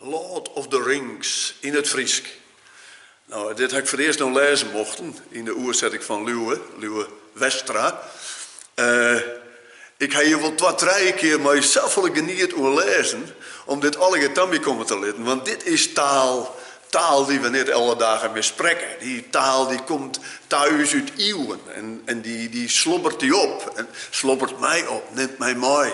Lord of the Rings yn it Frysk. No, dit ha ik foar it earst no lêze mochten yn de oersetting fan Liuwe, Liuwe Westra. Ik ha hjir wol twa, trije kear mei safolle geniet oan lêzen om dit allegear ta my komme te litten, want dit is taal, taal dy't we net alle dagen mear sprekke. Dy taal dy't komt ta ús út iuwen en dy slobbert dy op, slobbert my op, nimt my mei.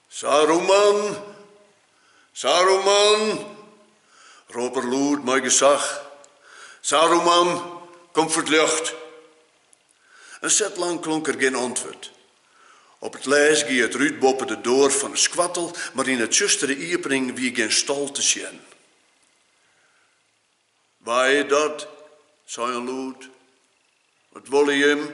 Saruman! Saruman! rôp er lûd mei gesach. Saruman, kom foar 't ljocht! In set lang klonk der gjin antwurd. Op 't lêst gie it rút boppe de doar fan 'e skoattel, mar yn 'e tsjustere iepening wie gjin stal te sjen. Wa is dat? sei in lûd. Wat wolle jimme?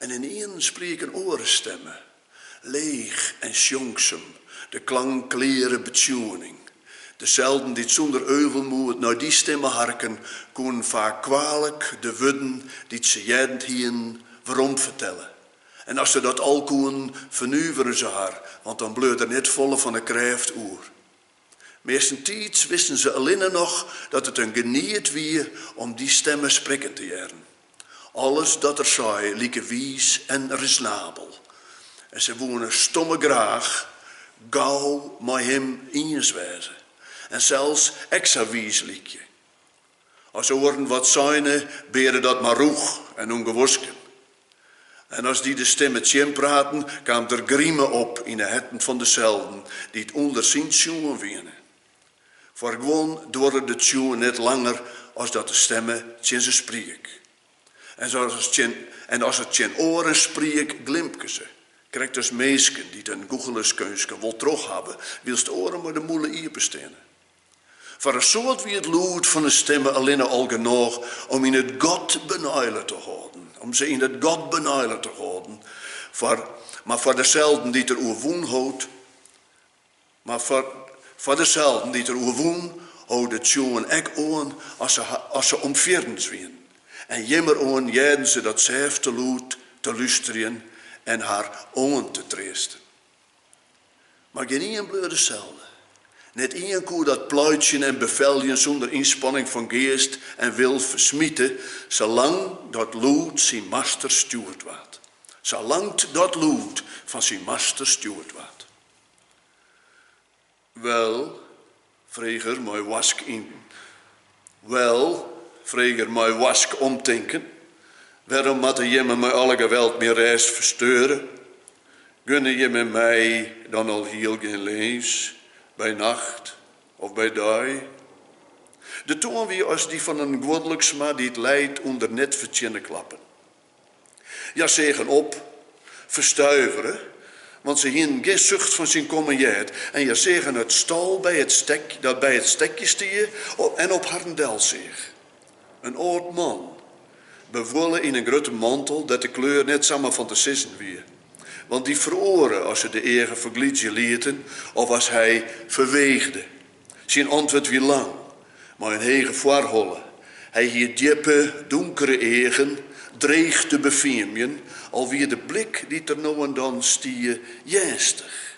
En ynienen spriek in oare stimme, leech en sjongsum, de klank kleare betsjoening. Deselden dy't sûnder euvelmoed nei dy stimme harken koene, faak kwealik de wurden dy't se heard hienen weromfertelle. En as se dat al koenen, fernuveren se har, want dan bleau der net folle fan 'e krêft oer. Meastentiids wisten se allinne noch dat it in geniet wie om dy stimme sprekken te hearren. Alles dat er sei like wiis en risonabel, en se woene stomme graach gau mei him iens wêze en sels ek sa wiis lykje. As oaren wat seine, beade dat mar rûch en ûngewosken. En as dy de stimme tsjinpraten, kaam der grime op yn 'e herten fan deselden dy't ûnder syn tsjoen wiene. Foar guon duorre de tsjoen net langer as dat de stimme tsjin se spriek. En as er tsjin oaren spriek, glimke se, krekt as minsken dy't in gûchelerskeunstke wol troch hawwe, wylst oaren mei de mûle iepen steane. Foar in soad wie it lûd fan 'e stimme allinne al genôch om yn it gat beneile te hâlden, om se yn it gat beneile te hâlden, foar, mar foar deselden dy't er oerwûn hold, mar foar, foar deselden dy't er oerwûn, hold de tsjoen ek oan as se, as se omfierrens wienen, en jimmeroan hearden se dat sêfte lûd te lústerjen en har oan te treasten. Mar gjin ien bleau deselde. Net ien koe dat pleitsjen en befeljen sûnder ynspanning fan geast en wil fersmite, sa lang dat lûd syn master stjoerd waard. Sa lang't dat lûd fan syn master stjoerd waard. Wel, frege er mei warsk yn. Wel, frege er mei warsk omtinken, wêrom moatte jimme mei alle geweld myn rêst fersteure? Gunne jimme my dan alhiel gjin lins, by nacht of by dei? De toan wie as dy fan in guodliksma dy't lijt ûnder net fertsjinne klappen. Hja seagen op, ferstuivere, want se hienen gjin sucht fan syn kommen heard, en hja seagen it stal dat by it stekje stie en op harren del seach. In âld man, bewuolle yn in grutte mantel dêr't de kleur net samar fan te sizzen wie, want dy feroare as se de eagen ferglydzje lieten of as hy ferweechde. Syn antwurd wie lang, mei in hege foarholle. Hy hie djippe, donkere eagen, dreech te befiemjen, al wie de blik dy't der no en dan stie earnstich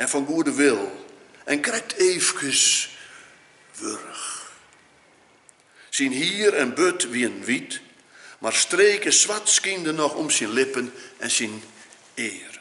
en fan goede wil en krekt eefkes wurch. Syn hier en burd wienen wyt, mar streken swart skynden noch om syn lippen en syn earen.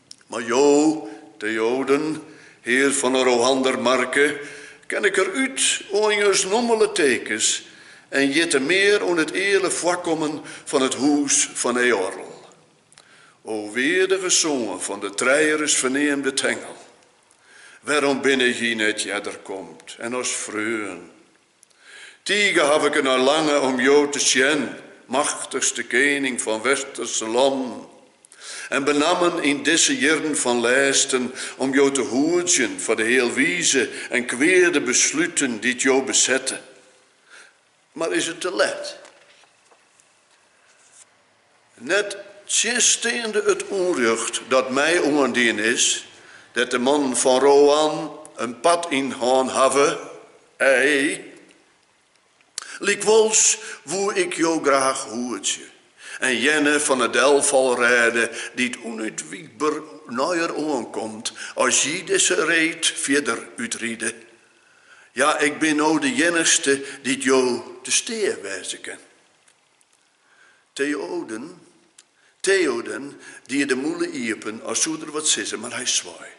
Mar jo, Theoden, hear fan 'e Rohander Marke, ken ik derút oan jins nommele tekens en jitte mear oan it eale foarkommen fan it hûs fan Eorl. O weardige soan fan de trijeris ferneamde Thengel, wêrom binne jy net earder komd en as freon? Tige haw ik dernei lange om jo te sjen, machtichste kening fan Westerse lannen, en benammen yn dizze jierren fan lêsten om jo te hoedzjen foar de healwize en kweade besluten dy't jo besette. Mar is it te let? Nettsjinsteande it ûnrjocht dat my oandien is, dêr't de mannen fan Rohan in part yn hân hawwe, ei. Lykwols woe ik jo graach hoedzje en jerne fan 'e delfal rêde dy't ûnútwikber neier oankomt as jy dizze reed fierder útride. Ja, ik bin no de iennichste dy't jo te stea wêze kin. Theoden, Theoden die de mûle iepen as soe er wat sizze, mar hy swei.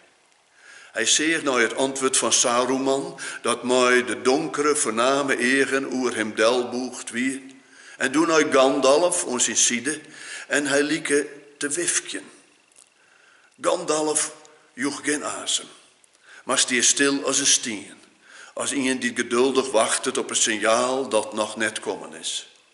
Hy seach nei it antwurd fan Saruman, dat mei de donkere, fername eagen oer him delbûgd wie, en doe nei Gandalf oan syn side en hy like te wifkjen. Gandalf joech gjin asem, mar stie stil as in stien, as ien dy't geduldich wachtet op in sinjaal dat noch net kommen is.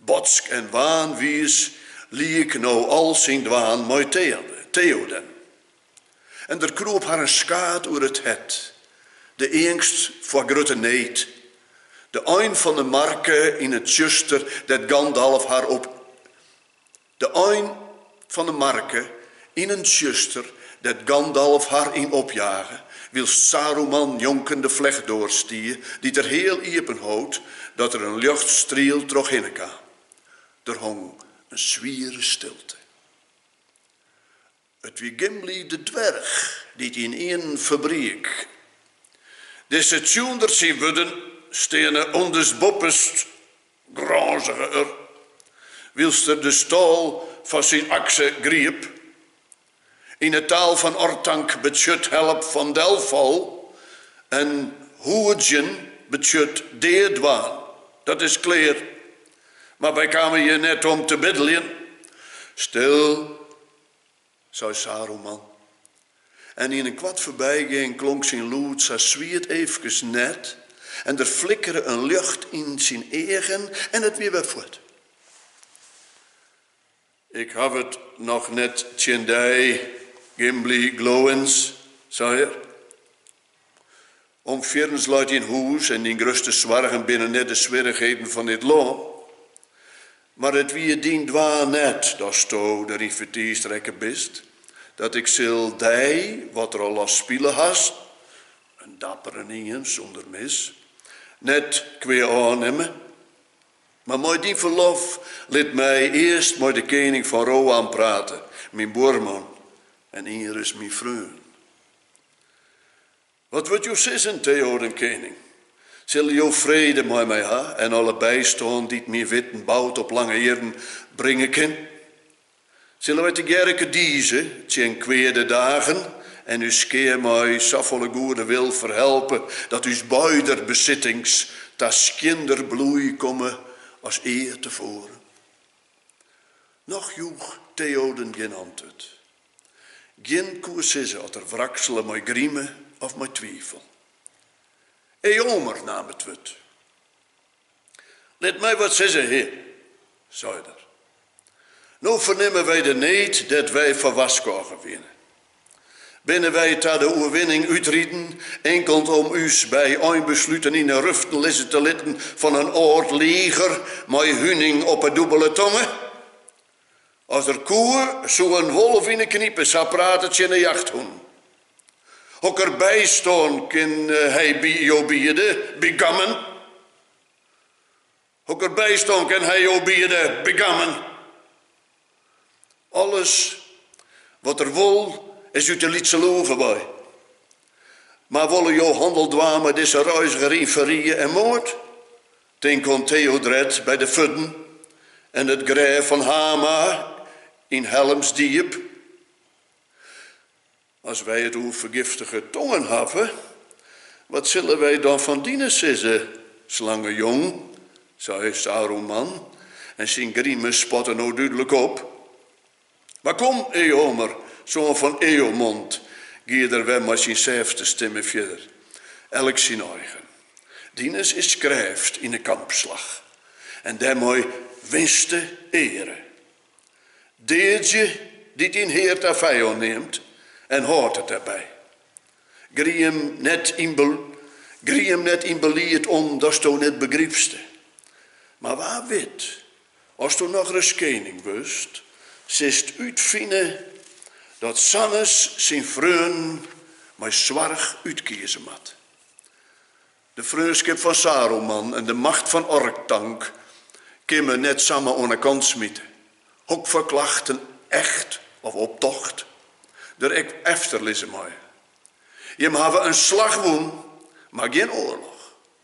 Botsk en waanwiis liek no al syn dwaan mei Theoden. En der kroop har in skaad oer it hert, de eangst foar grutte need, de ein fan 'e marke yn it tsjuster dêr't Gandalf har op De ein fan 'e marke yn in tsjuster dêr't Gandalf har yn opjage, wylst Saruman njonken de flechtdoar stie, dy't er heal iepen hold, dat der in ljochtstriel troch hinne kaam. Der hong in swiere stilte. It wie Gimli de dwerch dy't ynienen ferbriek. Dizze tsjûnder syn wurden steane ûnderstboppest grânzige er, wylst er de stâl fan syn akse griep. Yn 'e taal fan Orthanc betsjut help fan delfal en hoedzjen betsjut deadwaan. Dat is klear, mar wy kamen hjir net om te biddeljen. Stil! sei Saruman, en yn in koart foarbygean klonk syn lûd sa swiet eefkes net en der flikkere in ljocht yn syn eagen en it wie wer fuort. Ik haw it noch net tsjin dy, Gimli Glóins, sei er. Om fierrens leit dyn hûs en dyn grutste soargen binne net de swierrichheden fan dit lân, mar it wie dyn dwaan net datsto deryn fertiisd rekke bist, dat ik sil dy, wat rol ast spile hast, in dapperenien sûnder mis, net kwea ôfnimme. Mar mei dyn ferlof, lit my earst mei de kening fan Rohan prate, myn buorman en ienris myn freon. Wat wurdt jo sizzen, Theoden kening? Sille jo frede mei my ha en alle bystân dy't myn witten boud op lange jierren bringe kin? Sille wy tegearre kedize tsjin kweade dagen en ús skea mei safolle goede wil ferhelpe dat ús beider besittings ta skjinder bloei komme as ea tefoaren? Noch joech Theoden gjin antwurd. Gjin koe sizze oft er wraksele mei grime of mei twifel. Eomer naam it wurd. Lit my wat sizze, hear, sei er. No fernimme wy de need dêr't wy foar warskôge wiene. Binne wy ta de oerwinning útriden inkeld om ús by einbesluten yn 'e ruften lizze te litten fan in âld liger mei huning op 'e dûbele tonge? As er koe, soe in wolf yn 'e knipe sa prate tsjin 'e jachthûnen. Hokker bystân kin hy by jo biede, bygammen? Hokker bystân kin hy jo biede, bygammen? Alles wat er wol, is út 'e lytse loege wei. Mar wolle jo hannel dwaan mei dizze reiziger yn ferrie en moard? Tink oan Theodred by de Furden en it grêf fan Hama yn Helmsdjip. As wy it oer fergiftige tongen hawwe, wat sille wy dan fan dine sizze, slangejong? sei Saruman en syn grime spatte no dúdlik op. Mar kom, Eomer, soan fan Eomond, gie er wer mei syn sêfte stimme fierder, elk syn eigen. Dines is krêft yn 'e kampslach, en dêrmei winste eare. Deadzje dy't dyn hear ta fijân neamt, en hâld it derby. Griem net yn b, griem net yn belied om datsto net begrypste. Mar wa wit Asto noch ris kening wurdst, silst útfine dat sa'nes syn freonen mei soarch útkieze moat. De freonskip fan Saruman en de macht fan Orthanc kin men net samar oan 'e kant smite, hokfoar klachten, echt of optocht, der ek efter lizze meie. Jimme hawwe in slach wûn, mar gjin oarloch.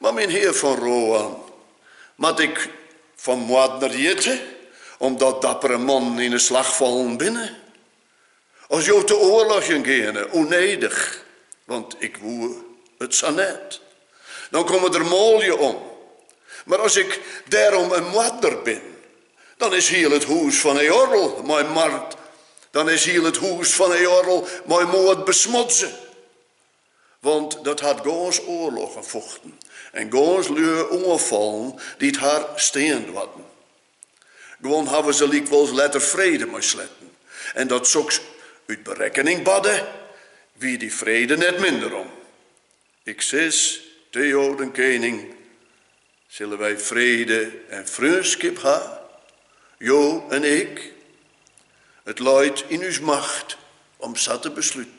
Mar myn hear fan Rohan, moat ik fan moardner hjitte, omdat dappere mannen yn 'e slach fallen binne? As jo te oarlogjen geane, ûnnedich, want ik woe it sa net, dan komme der manlju om, mar as ik dêrom in moardner bin, dan is hiel it hûs fan Eorl mei moard, dan is hiel it hûs fan Eorl mei moard besmodze. Want dat hat gâns oarloggen fochten en gâns lju oanfallen dy't har stean doarten. Guon hawwe se lykwols letter frede mei sletten, en dat soks út berekkening barde, wie dy frede net minder om. Ik sis, Theoden kening, sille wy frede en freonskip ha, jo en ik? It leit yn ús macht om sa te besluten.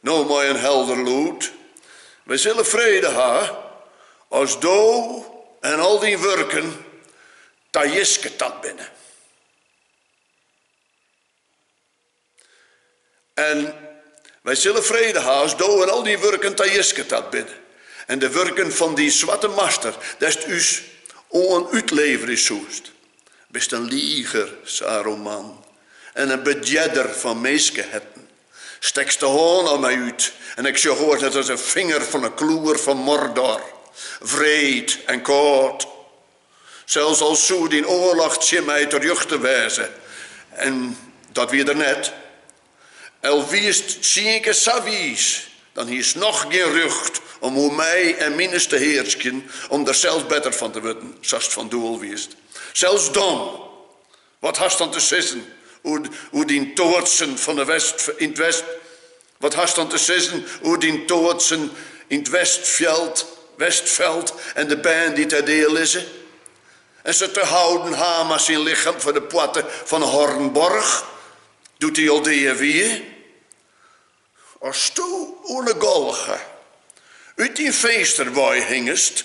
No mei in helder lûd, Wy sille frede ha, as Do en al Dyn wurken ta jiske tard binne. En Wy sille frede ha, as Do en al Dyn wurken ta jiske tard binne, en de wurken fan Dyn swarte master, dêr'tst ús oan útleverje soest. Bist in liger, Saruman, en in bedjerder fan minskeherten. Stekst de hân om my út en ik sjoch oars net as in finger fan 'e kloer fan Mordor, wreed en kâld. Sels al soe dyn oarloch tsjin my terjochte wêze, en dat wie er net, al wiest tsienkear sa wiis, dan hiest noch gjin rjocht om oer my en mines te hearskjen, om der sels better fan te wurden, sa'st fan doel wiest. Sels dan! Wat hast dan te sizzen oer dyn toartsen fan 'e west yn 't west? Wat hast dan te sizzen oer dyn toartsen yn 't westfjeld, Westfeld, en de bern dy't dêr dea lizze? En se tehouden Háma syn lichem foar de poarte fan 'e Hornborch, doe't dy al dea wie? Asto oan 'e galge út dyn finster wei hingest,